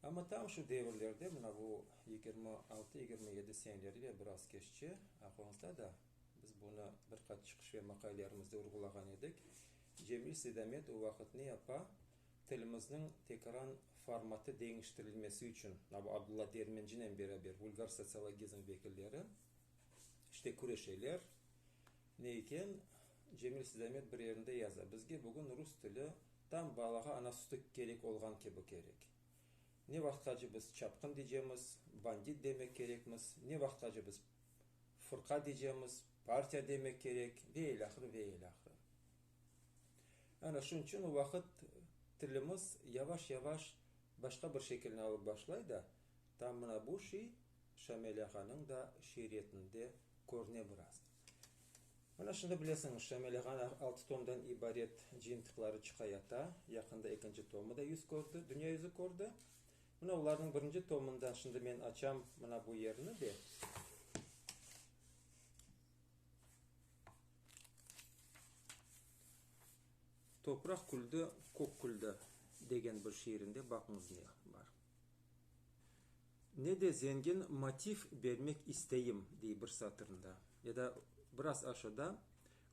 Amma tam şu devirlerde, mına bu yigirmi altı, yigirmi yedi seneleri ve biraz keççe, aqoñızda da biz bunı bir qaç çıqış ve maqalelerimizde urğulağan edik, Cemil Seydamet o vaqıt ne yapa, tilimizniñ tekran formatı deñiştirilmesi içün, mına bu Abdulla Dermencinen beraber vulgar sotsiologizm vekilleri işte küreşeler, Ne eken, Cemil Sidamet bir yerinde yaza, Bizge bugün rus tili tam balağa ana sütü kerek olğan kibi kerek. Ne vaqtqace biz çapqın diycemiz, bandit demek kerekmiz, ne vaqtqace biz fırqa diycemiz, partiya demek kerek ve ilâhre ve ilâhre. Ana şunıñ içün o vaqıt tilimiz yavaş-yavaş başqa bir şekilni alıp başlay da, tam mına bu şey Şamil ağanıñ da şiiretinde körüne biraz. Mana şimdi bilesiñiz, Şamil ağanıñ altı tomdan ibaret cıyıntıqları çıqa yata, yaqında ekinci tomı da yüz kördi, dünya yüzü kördi. Mına olarnıñ birinci tomında, şimdi men açam mına bu yerni de, Topraq küldi, kök küldi degen bir şiirinde baqıñız ne bar. Ne de zengin motiv bermek isteyim, dey bir satırında. Ya da biraz aşağıda,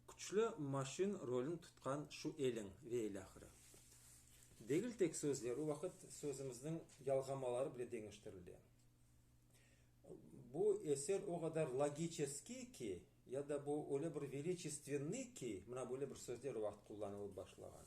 küçlü maşin rolün tutqan şu eliñ ve ilâhre. Degil tek sözler, o vaqıt sözümizniñ yalğamaları bile deñiştirile. Bu eser o qadar logiçeskiy ki, ya da bu öyle bir veliçestenniy ki, mına böyle bir sözler o vaqıt qullanılıp başlağan.